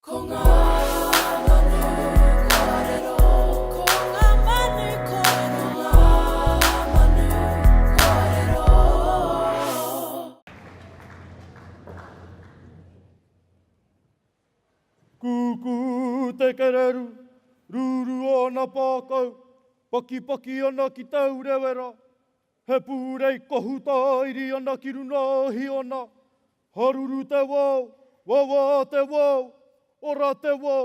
Ko ngā manu kōrero. Ko ngā manu kōrero. Ko ngā manu kōrero. Kūkū te kereru, ruru ōna pākau, pakipaki ana ki tau rewera. He pūrei kohu tāiri ana ki runga o Hiona, Haruru te wō, wawā te wō, ora te wō.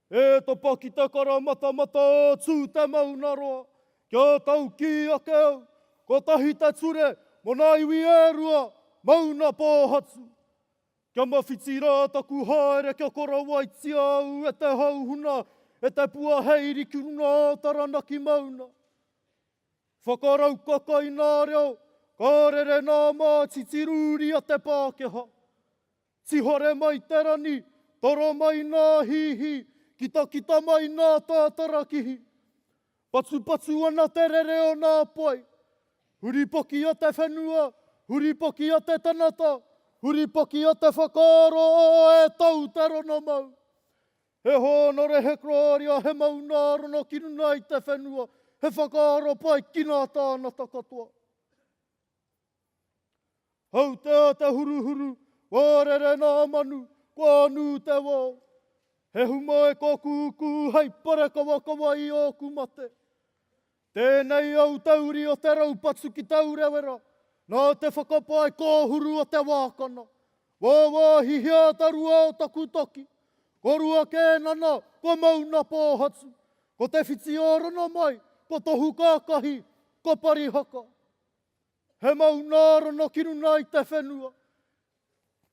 E tapa ki te karamatamata o Tū te Maunaroa, kia taukī ake au, kotahi te ture mō nā iwi e rua, Mauna Pōhatu. Kia mawhiti rā taku haere kia korawaitia au e te hauhuna, e te pua hei iri ki runga o Taranaki Mauna. Whakaraukaka i ngā reo ka rere nā mā titirūri a te Pākehā. Tihore mai te rani, toro mai ngā hīhī, kitakita mai ngā tātarakihi. Patupatu ana te rere o ngā pae. Huripaki a te whenua, huripaki a te tanata, huripaki a te whakaaro o e tau te rona mau. He hōnore, he kararia, he mauna arana ki runga i te whenua, he whakaaro pai ki ngā tāngata katoa. Hautea te huruhuru, kua rere ngā manu, kua nū te wao. He humae kō kūkū hei parekawakawa i ōku mate. Tēnei au te uri o te raupatu ki Taurewera, nā te whakapae kōhuru o te wākana. Wāwāhihia te rua o taku taki, ko Rua Kēnana, ko Mauna Pōhatu, ko Te Whitiōrana mai, ko Tohu Kākahi, ko Parihaka. He maunārana ki runga i te whenua.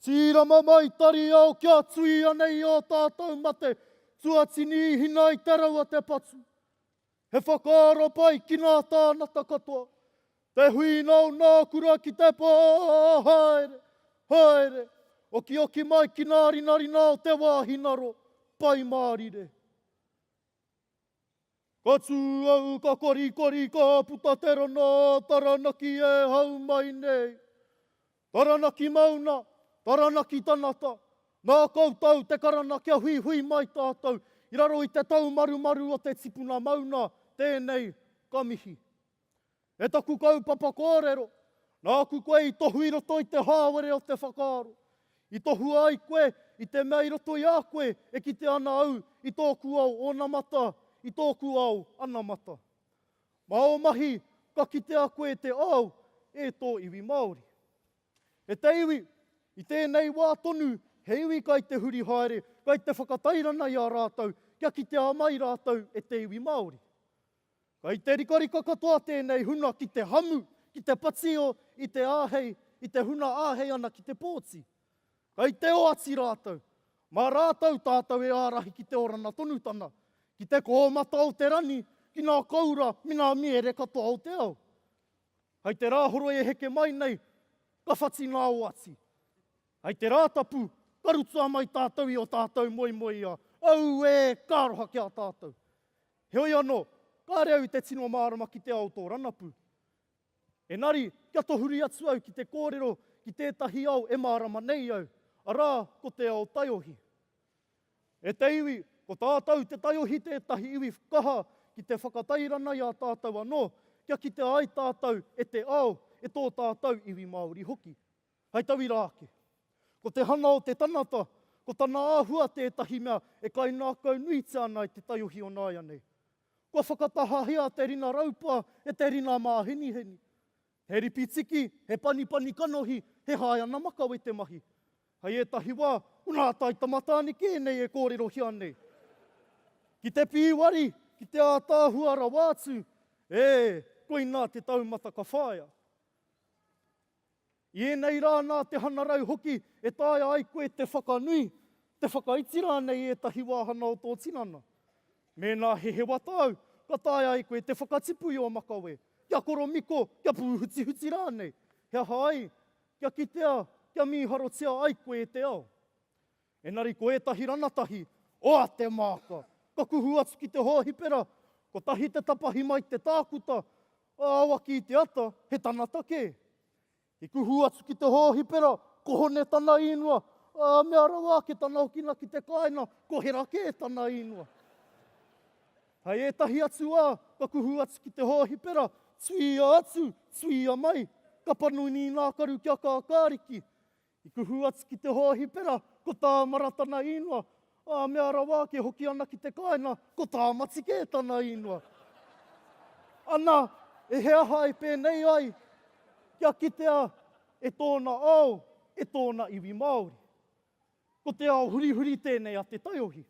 Tīrama mai Tariao kia tuia nei ō tātou mate, tuatini i hina i te rau a te patu. He whakaaro pai ki ngā tāngata katoa te huinau nā kura ki te pā haere, haere, okioki mai ki ngā rinarina o te wā hinaro, Pai Mārire. Ka tū au ka korikori ka puta te rana Taranaki e hau mai nei. Taranaki Mauna, Taranaki Tanata, nā koutou te karana kia huihui mai tātou i raro i te taumarumaru o te tipuna mauna, tēnei ka mihi. E taku kaupapa kōrero, nāku koe i tohu i roto i te hāwere o te whakaaro. I tohua ai koe i te mea i roto i a koe e kite ana au i tōku ao onamata, i tōku ao anamata. Mā ō mahi ka kitea koe te ao e tō iwi Māori. E te iwi, i tēnei wā tonu he iwi kai te huri haere, kai te whakatairana i a rātou kia kitea mai rātou e te iwi Māori. Kai te rikarika katoa tēnei huna ki te hamu, ki te patio i te āhei, i te huna āhei ana ki te pōti. Kei te oati rātou. Mā rātou tātou e ārahi ki te orana tonutanga, ki te kōmata o te rangi, ki ngā koura me ngā mīere katoa o te ao. Hei te rā horoi e heke mai nei, ka whati ngā oati. Hei te Rātapu, ka rutua mai tātou i o tātou moemoeā. Auē, ka aroha ki a tātou. Heoi anō, kāre au i te tino mārama ki te ao o tō ranapu. Engari, kia tohuri atu au ki te kōrero ki tētahi ao e mārama nei au, arā, ko te ao taiohi. E te iwi, ko tātou te taiohi tētahi iwi kaha ki te whakatairana i a tātou anō, kia kitea ai tātou e te ao, e tō tātou iwi Māori hoki. Hai tauira ake. Ko te hanga o te tangata, ko tana āhua tētahi mea e kaingākaunuitia ana e te taiohi o nāianei. Kua whakatahahia te rina raupa e te rina māheniheni. He ripi tiki, he panipani kanohi, he haeana makawe te mahi. Hei ētahi wā, ko nā tai tamatāneke ēnei e kōrerohia nei. Ki te pīwari, ki te ātaahua rawa atu, ē, koinā te taumata ka whāia. I ēnei rā nā te hangarau hoki e taea ai koe te whakanui, te whakaiti rānei i ētahi wāhanga o tō tinana. Mēnā he hewata au, ka taea ai koe te whakatipu i ō makawe, kia koromiko, kia pūhutihuti rānei, he aha ai, kia kitea, kia mīharotia ai koe e te ao. Engari ko ētahi ranatahi, oa te māka! Ka kuhu atu ki te hōhipera, kotahi te tapahi mai te tākuta, ā, awaki i te ata, he tangata kē. I kuhu atu ki te hōhipera, ko Hone tana īnua, ā, mea rawa ake tana okina ki te kāinga, ko Hera kē tana īnua. Hei ētahi atu wā, ka kuhu atu ki te hōhipera, tuia atu, tuia mai, ka panoni i ngā karu kia kākāriki. I kuhu atu ki te hōhipera, ko tā Mara tana īngoa. Ā, mea rawa ake hoki ana ki te kāinga, ko Tāmati kē tana īngoa. Ana, e he aha e pēnei ai kia kitea e tōna ao, e tōna iwi Māori? Ko te ao hurihuri tēnei a te taiohi.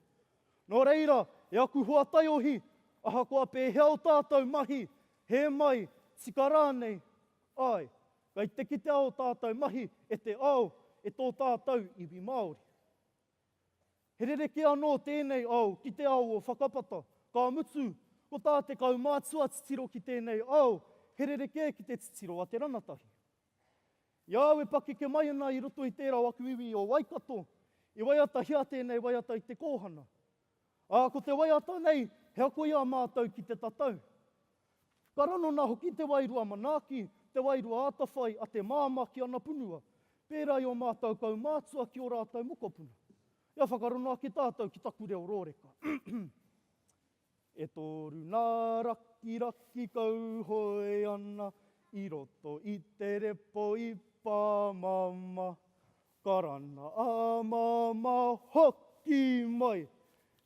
Nō reira, e aku hoa taiohi, ahakoa pēhea o tātou mahi, hē mai, tika rānei, āe, Kei te kitea ō tātou mahi e te ao, e tō tātou iwi Māori. He rerekē anō tēnei ao ki te ao o whakapata, ka mutu, ko tā te kaumātua titiro ki tēnei ao, he rerekē ki te titiro a te rangatahi. I a au e pakeke mai ana i roto i tērā o aku iwi o Waikato, i waiatahia tēnei waiata i te kōhana. Ā, ko te waiata nei, he ako i a mātou ki te tatau. Ka ranona hoki te wairua manaaki, te wairua atawhai a te māmā ki ana punua, pērā i ō mātou kaumātua ki ō rātou mokopuna. Ia whakarongo ake tātou ki taku reo rōreka. E toru nā rakiraki kauhoe ana i roto i te repo i Pāmama. Karana a Māmā hoki mai.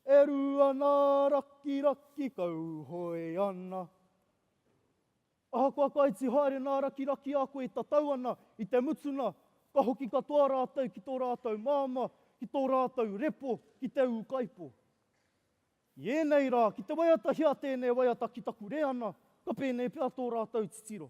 E ru ana rakiraki kauhoe ana. Ahakoa ka iti haere nā rakiraki a koe e tatau ana, i te mutunga, ka hoki katoa rātou ki tō rātou māmā, ki tō rātou repo, ki te ūkaipō. I ēnei rā, ki te waiata hea tēnei waiata ki taku reana, ka pēnei pea tō rātou titiro.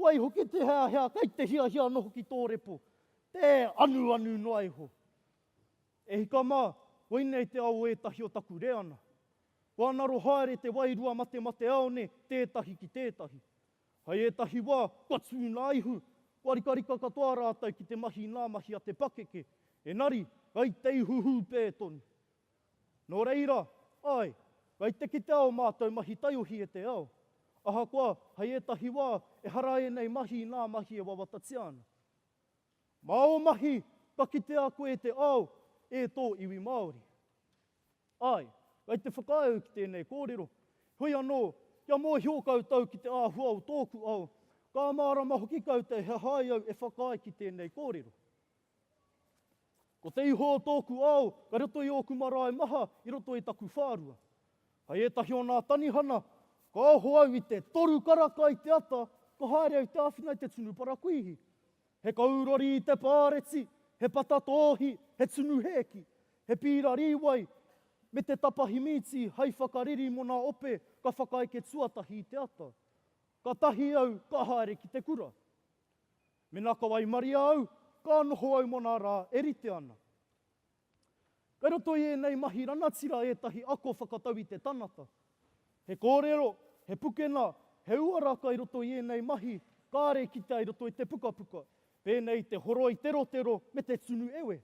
Waihoki te heahea kei te hiahia noho ki tō repo, tē anuanu noa iho. E hika mā, koinei te ao ētahi o taku reana. Kua ngaro haere te wairua matemate ao ne tētahi ki tētahi. Hai ētahi wā, kua tū ngā ihu, kua rikarika katoa rātou ki te mahi ngā mahi a te pakeke, engari, kei te ihu hūpē tonu. Nō reira, āe, whai te kitea ō mātou mahi taiohi e te ao. Ahakoa, hei ētahi wā, ehara ēnei mahi i ngā mahi e wawatatia ana. Mā ō mahi ka kitea koe e te ao, e tō iwi Māori. Āe, kei te whakaae au ki tēnei kōrero, heoi anō, kia mōhio koutou ki te āhua o tōku ao, ka mārama hoki koutou he hai au e whakaae ki tēnei kōrero. Ko te iho o tōku ao ka roto i ōku marae maha i roto i taku whārua. Kai ētahi o nā tanihana, ka oho au i te toru karaka i te ata, ka haere au te āwhina i te tunu parakuihi. He kou rori i te pāreti, he pata tōhi, he tunu hēki, he pīra rīwai, me te tapahi mīti hai whakariri mo nā ope ka whakaeke tuatahi i te ata. Ka tahi au ka haere ki te kura. Mena ka waimaria au, ka noho au mona ra e rite ana. Kai roto i enei mahi ranatira etahi ako whakatau i te tangata. He korero, he pukena, he uara kai roto i enei mahi kare kitea i roto i te pukapuka, penei i te horoi terotero me te tunu ewe.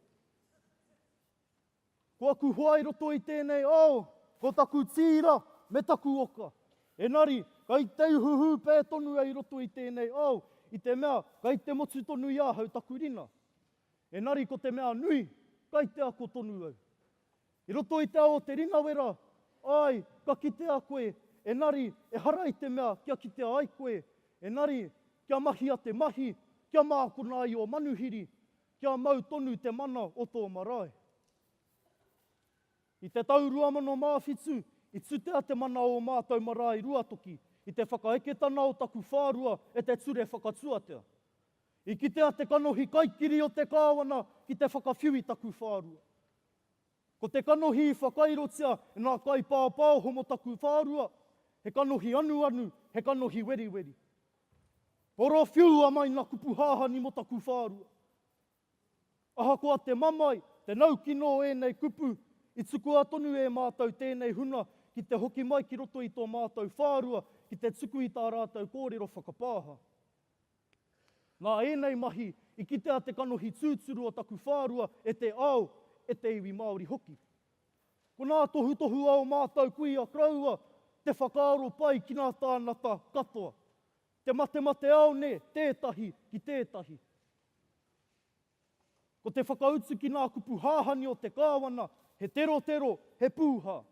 Ko aku hoa i roto i tēnei ao, ko taku tīra me taku oka. Enari, kai te uhuhu pē tonu au i roto i tēnei ao, i te mea kai te motu tonu i ahau taku rina. Enari ko te mea nui, kai te ako tonu au. I roto i te ao o te rinawera, āe, ka kitea koe, enari ehara i te mea kia kitea ai koe, enari kia mahia te mahi, kia mākona ai ō manuhiri. Kia mau tonu te mana o tō marae. I te tau 2007, i tutea te mana o ō mātou marae Ruatoki i te whakaeketana o taku whārua e te Ture Whakatuatea. I kitea te kanohi kaikiri o te Kāwana ki te whakawhiu i taku whārua. Ko te kanohi i whakairotia e ngā kaipāpāo homotakuwhārua, he kanohi anuanu, he kanohi weriweri. Oro whiua mai ngā kupu hāhani mō taku whārua. Ahakoa te mamae, te naukino o ēnei kupu, i tukua tonu e mātou tēnei huna ki te hoki mai ki roto i tō mātou whārua ki te tuku i tā rātou kōrero whakapāha. Nā ēnei mahi i kitea te kanohi tūturu o taku whārua e te ao, e te iwi Māori hoki. Ko nā tohutohu a o mātou kuia koroua te whakaaro pai ki nā tāngata katoa. Te matemate ao nē, tētahi ki tētahi. Ko te whakautu ki nā kupu hahani o te kāwana, he terotero, he pūhā.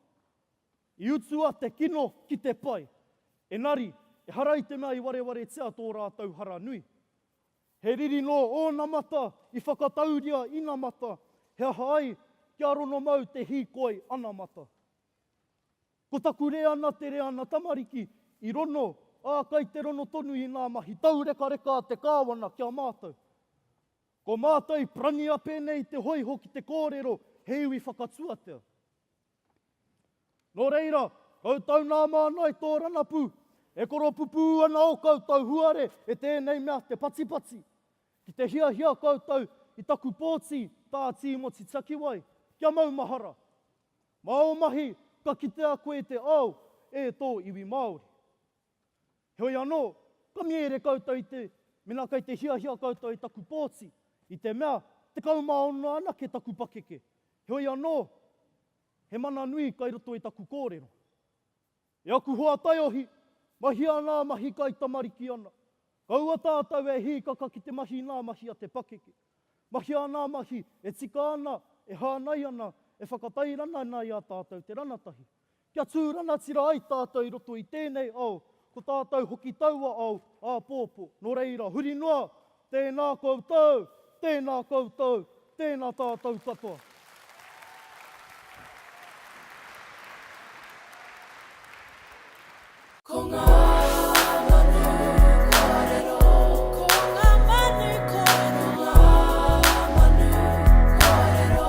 I utua te kino ki te pai. Enari, ehara i te mea i warewaretia tō rātou hara nui. He riri nō ōnamata i whakatauria inamata, he aha ai, kia rono mau te hīkoi anamata. Ko taku reana te reana tamariki, i rono, ā, kai te rono tonu i ngā mahi taurekareka a te Kāwana ki a mātou. Ko mātou i prania pēnei te hoiho ki te kōrero he iwi whakatuatea. Nō reira, koutou nā māna i tō rangapū, e koropupū ana ō koutou huare e tēnei mea te patipati, ki te hiahia koutou i taku pōti, tā Tīmoti Takiwai, kia maumahara. Mā ō mahi ka kitea koe te ao e tō iwi Māori. Heoi anō, ka mīere koutou i te, mena kei te hiahia koutou i taku pōti, i te mea, tekau mā ono anake taku pakeke. Heoi anō, he mana nui kai roto i taku kōrero. E aku hoa taiohi, mahia anā mahi kai tamariki ana. Kaua tātou e hīkaka ki te mahi nā mahi a te pakeke. Mahia anā mahi e tika ana, e hānai ana, e whakatairana ana i a tātou te ranatahi. Kia tū rangatira ai tātou i roto i tēnei ao, ko tātou hoki taua ao āpōpō. Nō reira, huri noa, tēnā koutou, tēnā koutou, tēnā tātou katoa. Ko ngā manu kōrero. Ko ngā manu kōrero. Ko ngā manu kōrero.